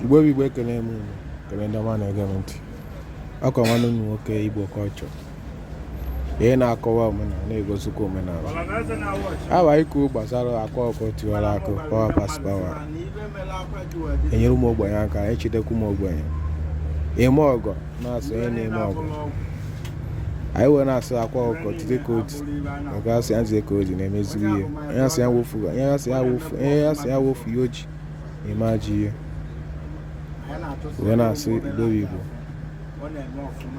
igbo bụ igbo ekele m unu kele ndị ọma na-ege m ntị ọkwa nwanne unu nwoke igbo culture ihe na-akọwa omenala na-egosikwa omenala abịa ikwu gbasara akwa ọkụkọ tiwara akị power pass power enyere ụmụ ogbenye aka echetakwa ụmụ ogbenye ime ọgọ na-asọ onye na-eme ọgọ anyị wee na-asị akwa ọkụkọ jide ka o ji ọkwa asị ya jide ka o ji na-emeziri ihe onye asị ya wefu ihe o ji na-eme ajọ ihe wee na-asị igbo bụ igbo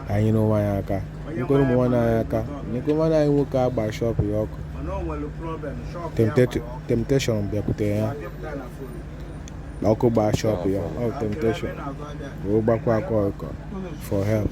anyị nyere onwe anyị aka nyekwere ụmụ nwanne anyị aka nyekwere nwanne anyị nwoke agba shop ya ọkụ temptation bịakwutere ya na ọkụ gbaa shop ya ọ temptation wee gbakwu akwa ọkụkọ for help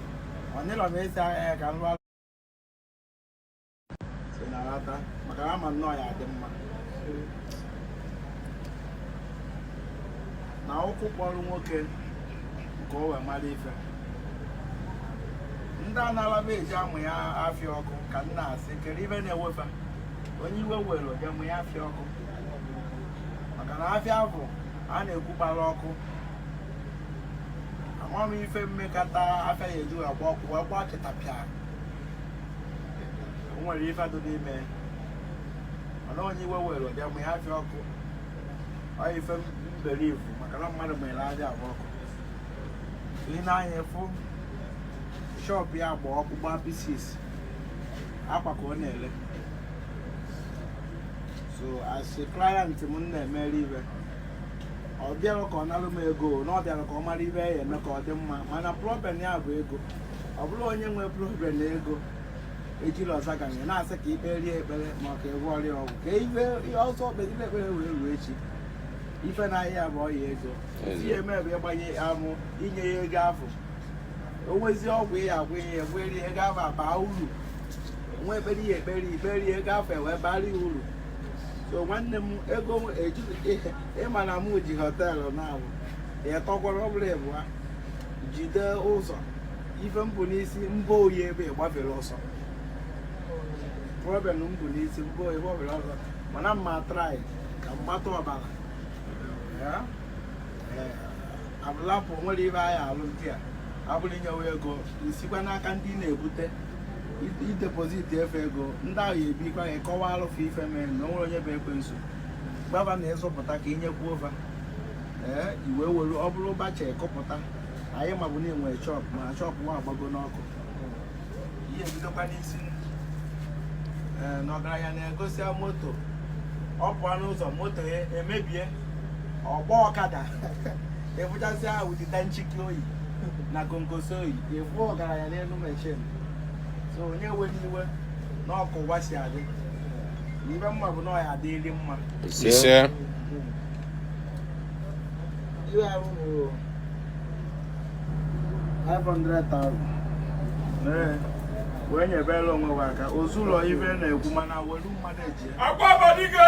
ọnyịlọ m esi ahịa ya ka m lụọ si na rata maka na ama nnọọ ya adị mma na ụkwụ kpọrọ nwoke nke o wee mara ife ndị anara m eji amụ ya afịa ọkụ ka m na-asị kee ife na-ewe fa onye iwe were oje mụ ya afịa ọkụ maka na afịa ahụ a na-ekwu gbara ọkụ ama m ife mmekọta afịa ya eji agba ọkụ wee gbaa chịtapịa o nwere ife dị n'ime mana onye iwe were ụdị amụ ya afịa ọkụ ọ ife mgbarụ ifu maka na mmadụ mere afịa agba ọkụ ị na-anya fụ shop ya agba ọkụ gbaa pieces akwa ka ọ na-ele so as a client m na-emere ife ọ bịarọ ka ọ narụ m ego na ọ bịara ka ọ mara ife ya eme ka ọ dị mma mana problem ya bụ ego ọ bụrụ onye nwee problem na ego ejila ọza ga ya na-asị ka i kpeere ya ekpere ma ọ ka ị gwọọrọ ya ọgwụ ka ife ihe ọsọ kpegide ekpere wee ruo echi ife na ahịa bụ ọya ego si ya eme ebe ịgbanye amụ inye ya ego afụ onwezi ọgwụ ya agwọ ihe egweri ego afụ abaa uru nwa ekpere ya ekpere ikperi ego afụ ewee bara ya uru so nwanne m ego ịma na mụ ji hotel na-abụ ịtọkwara ọbụrụ ịbịa jide ụzọ ife m bu n'isi mba oyi ebe gbafere ọsọ problem m bu n'isi mba oyi gbafere ọsọ mana m ma try ka mgbatụ ọbara abụlapụ nwere ibe anyị alụ ndị a ọbụrụ inyewe ego isikwa n'aka ndị na-ebute idepozit efe ego ndị ahụ ya ebikwa ya kọwa alụfụ ife mere na o nwere onye bụ ekwensu gbaba na ịzụpụta ka i nyekwu ụfa ee iwe were ọ bụrụ ụbacha ịkụpụta anyị ma bụ na i nwere shop ma shop nwa agbago n'ọkụ i je bidokwa n'isi ee na ọgaranya na-egosịa moto ọ pụọ n'ụzọ moto ya emebie ọ gbaa ọkada ị fụchasịa ụdị danchiki o yi na konkoso o yi ị fụ ọgaranya n'elu machine so onye were iwe na ọ ka ụwa si adị na ife m ma bụ na ọ ya-adịrị mma ise iwe ahụ bụ 500,000 Ee, wee nyebere onwe gị aka ozu ụlọ ife na-ekwu mana welu mmadụ eji ya. Akwa Abadike!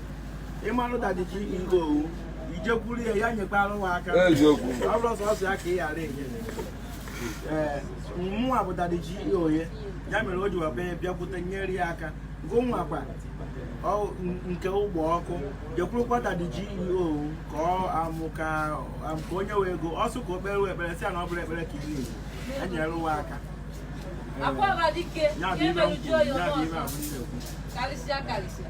ị marụ Daddy G.O. i jekwuru ya ya nyekwara gị aka Eziokwu. ọ bụrụ sọsọ ya ka ị ghara enye ee mụnwa bụ Daddy G.O. ya ya mere o ji wee bịa bịakwute nyere ya aka gụnwakwa ọ- n- nke ụgbọ ọkụ jekwurukwa Daddy G.O. ka ọ amụ ka am- ka o nye gị ego ọ sị ka o kpere wee ekpere sị ya na ọ bụrọ ekpere ka a na-eji enyere ụwa aka Akwa ọba dike, ya bụ ihe m na-emerụ kwuru, jụọ ya ya bụ ihe ọzọ. ahụ m na-ekwu karịsịa karịsịa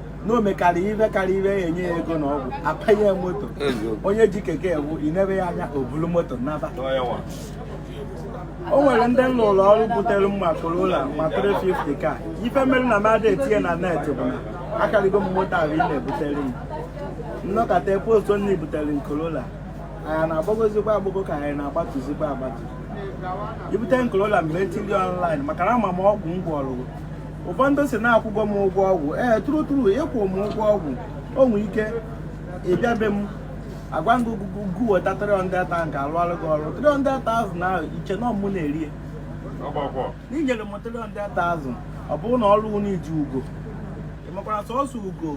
na o mekarịa ife karịa ibe ya enye ya ego na ọgwụ apanye ya moto onye ji keke ewu i nebe ya anya o bulu moto naba o nwere ndị m na-alụlụ ọrụ butere m ma Corolla ma 350 ka ife mere na m adị etinye na net bụ na akarịgo m moto ahụ ị na-ebutere m m nọkata postuo na i butere m Corolla anyị na-agbagozikwa agbago ka anyị na-agbatuzikwa agbatu i bute m Corolla m je etiri online maka na ama m ọgwụ m gwọrụ ụfọdụ sị na akwụgo m ụgwọ ọgwụ ee true true ị kwụ m ụgwọ ọgwụ i nwere ike ịbịa be m agwa gị ogugo gu weta 300,000 ka alụọlụ gị ọrụ 300,000 ahụ i che na ọ mụ na-eri ya na i nyere m 300,000 ọ bụrụ na ọrụ na-eji ugo ị makwara sọsọ ugo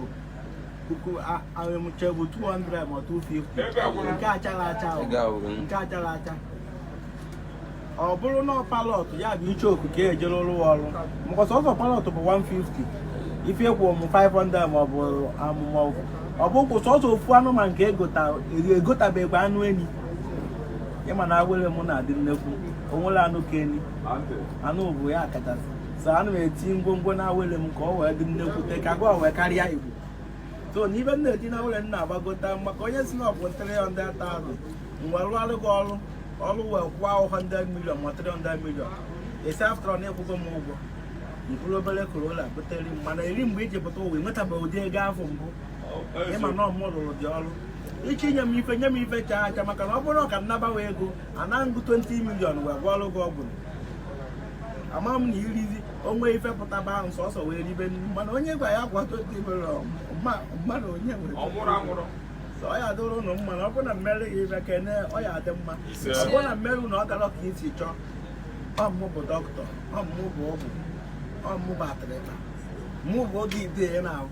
puku ahụ m che bụ 200 ma 250 nke achara acha nke achara acha ọ bụrụ na parrot ya bụ icheoku ka ejere lụọ ọrụ maka sọsọ parrot bụ 150 ife kwụ m 500 ma ọ bụ amụma ọgwụ ọ bụ kwụ sọsọ ofu anụmanụ nke egotabegbe anụ enyi ị ma na awere m na-adị nnekwu o nwere anụ ka enyi anụ bụ ya kachasị so ana m eti ngwongwo na awere m ka ọ wee dị nnekwute ka gwa wee karịa Igbo so n'ife m na-eti na awere m na-agbagota maka onye sị na ọ bụ 300,000 m je rụọlụ gị ọrụ ọrụ wee kwụọ 100 million ma 300 million ị sị after na ị kwụgo m ụgwọ mkpụrụ obere Corolla butere m mana eri mgbe i ji pụta ụwa i nwetabeghị ụdị ego afụ mbụ ị ma na ọ mụ rụrụ gị ọrụ ị ga-enye m ife nye m ife chaa acha maka na ọ bụrụ ka m na-ana ego ana m gị 20 million wee gwọọrọ gị ọgwụ ama m na i rizie o nwee ife pụtaba ahụ sọsọ wee ribe nri mana onye gwa ya gwa 20 million mmadụ onye nwere ọ ya adịrị ụnụ mma na ọ bụrụ na m meere gị ife kene ọ ya adị mma ọ bụrụ na m meere na ọ gara ka i si chọọ ọ mụ bụ dọkịta ọ mụ bụ ọgwụ ọ mụ bụ atịrịta mụ bụ oke ite ya na-ahụ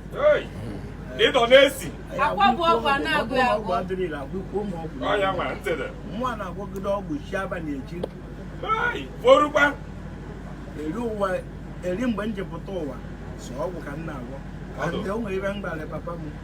ịdọ na-esi akwa bụ ọgwụ a na-agwọ ya ọgwụ adịrị ire agwụkwọ ụmụ ọgwụ ọya nwere ntịdị mụwa na-agwọgide ọgwụ chi abalị echi forukwa eri ụwa eri mgbe m ji pụta ụwa sọ ọgwụ ka m na-agwọ ka ndị o nwere ife m gwara papa m